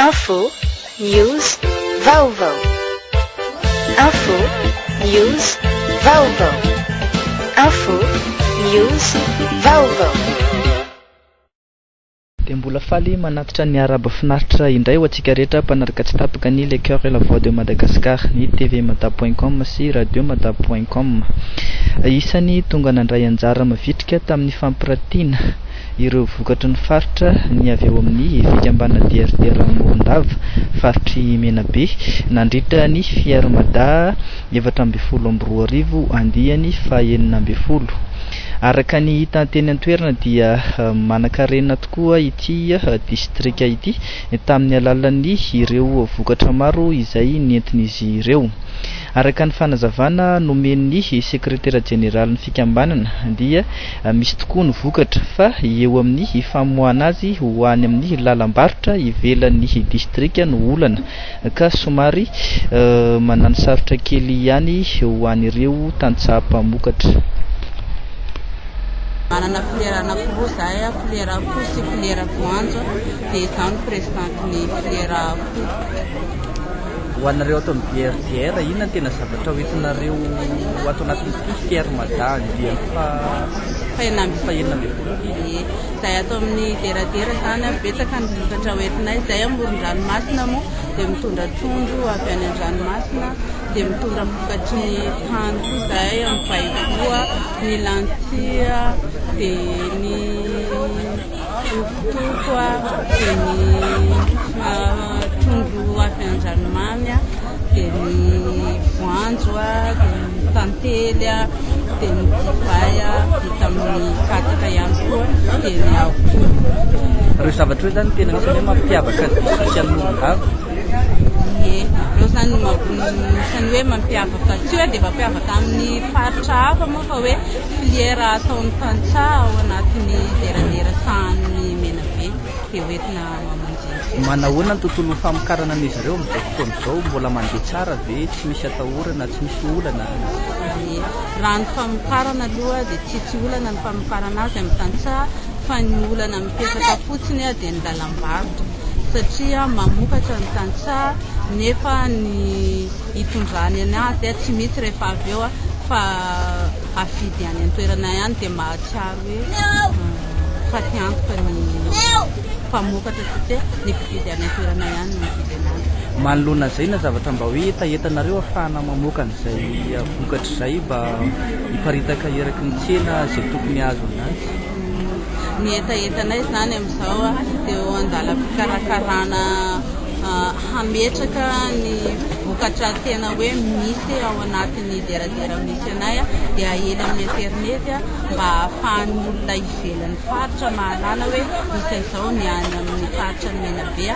Info, news, vaovao. Info, news, vaovao. Info, news, vaovao. Dia mbola faly manatitra ny Arabo finaritra indray ho antsika rehetra mpanaraka tsy tapaka ny Le Coeur et la Voix de Madagascar, ny tvmada point com sy radiomada point com. Isan'ny tonga nandray anjara mavitrika tamin'ny fampiratiana. ireo vokatry ny faritra ny avy ao amin'ny fikambanana DRD Rano Morondava faritr'i Menabe nandritra ny Fier Mada efatra ambin'ny folo amby roa arivo andiany fahenina ambin'ny folo. Araka ny hita teny an-toerana dia manankarena tokoa ity distrika ity tamin'ny alalan'ny ireo vokatra maro izay nentin'izy ireo. Araka ny fanazavana nomen'ny sekretera jeneralin'ny fikambanana dia Misy tokoa ny vokatra, fa eo amin'ny famoahana azy ho any amin'ny lalam-barotra ivelan'ny distrika no olana, ka somary mananosarotra kely ihany ho an'ireo tantsaha mpamokatra. Manana filière anankiroa izahay, filière akoho sy filière voanjo, dia izaho no présidente ny filière akoho. Ho anareo ato amin'ny BRDR, inona no tena zavatra ho entinareo ato anatin'ity Fier Mada andiany faha enina ambin'ny folo ity? Ie, izahay ato amin'ny Deradera izany an, betsaka ny vokatra ho entinay. Izahay amoron-dranomasina moa dia mitondra trondro avy any an-dranomasina, dia mitondra vokatry ny tany koa izahay amin'ny paiboa, ny lentilles, dia ny. Hovitoko dia ny trondro avy an-dranomamy, dia ny voanjo, dia ny tantely, dia ny divay vita amin'ny katsaka ihany koa, dia ny akoho. Ireo zavatra ireo zany tena anisany hoe mampiavaka ny distrikan'i Morondava? Ie, ireo zany no anisany hoe mampiavaka, tsy hoe dia mampiavaka amin'ny faritra hafa moa fa hoe. Filière ataon'ny tantsaha ao anatin'ny deradera sahanin'i Menabe dia hoentina mamonjy antsika. Manahoana ny tontolon'ny famokarana an'izy ireo amin'izao fotoana izao? Mbola mandeha tsara ve? Tsy misy atahorana? Tsy misy olana? Ie. Raha ny famokarana aloha dia tsy tsy olana ny famokarana azy amin'ny tantsaha fa ny olana mipetraka fotsiny dia ny lalam-barotra satria mamokatra ny tantsaha nefa ny hitondrany an ahy dia tsy misy rehefa avy eo aho fa hafidy any antoerana ihany dia mahatsiaro hoe fa te antoka ny mpamokatra satria ny mpividy any antoerana ihany no mividy anazy manoloana izay na zavatra mba hoe hetahetanareo afahana mamoaka an'izay vokatra izay mba hiparitaka eraky ny tsena izay tokony azo anazy ny hetahetanay izany amin'izao dia eo an-dalam-pikarakarana hametraka ny vokatra tena hoe misy ao anatin'ny deradera misy anay dia ahena amin'ny interinety mba hahafahan'ny olona ivelan'ny faritra mahalala hoe misy an'izao ny any amin'ny faritra ny Menabe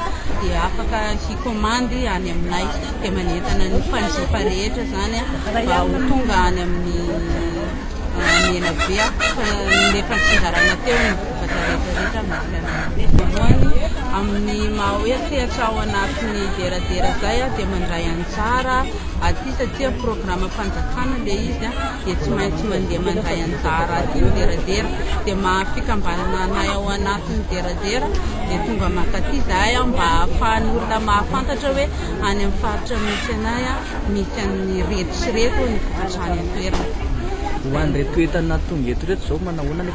dia afaka hikomandy any aminay dia manentana ny mpanjifa rehetra izany mba ho tonga any amin'ny Menabe fa ny efa nitsinjarana teo ny vata rehetrarehetra amin'ny fianakaviana. Voalohany, amin'ny maha hoe sehatra ao anatin'ny deradera izay dia mandray anjara aty satria programam-panjakana ilay izy dia tsy maintsy mandeha mandray anjara aty ny deradera. Dia maha fikambanana anay ao anatin'ny deradera dia tonga mankaty izahay mba hahafahan'ny olona mahafantatra hoe any amin'ny faritra misy anay misy an'ireto sy ireto ny vokatra any an-toerana. Ho an'ireto entana tonga eto ireto izao manao ahoana?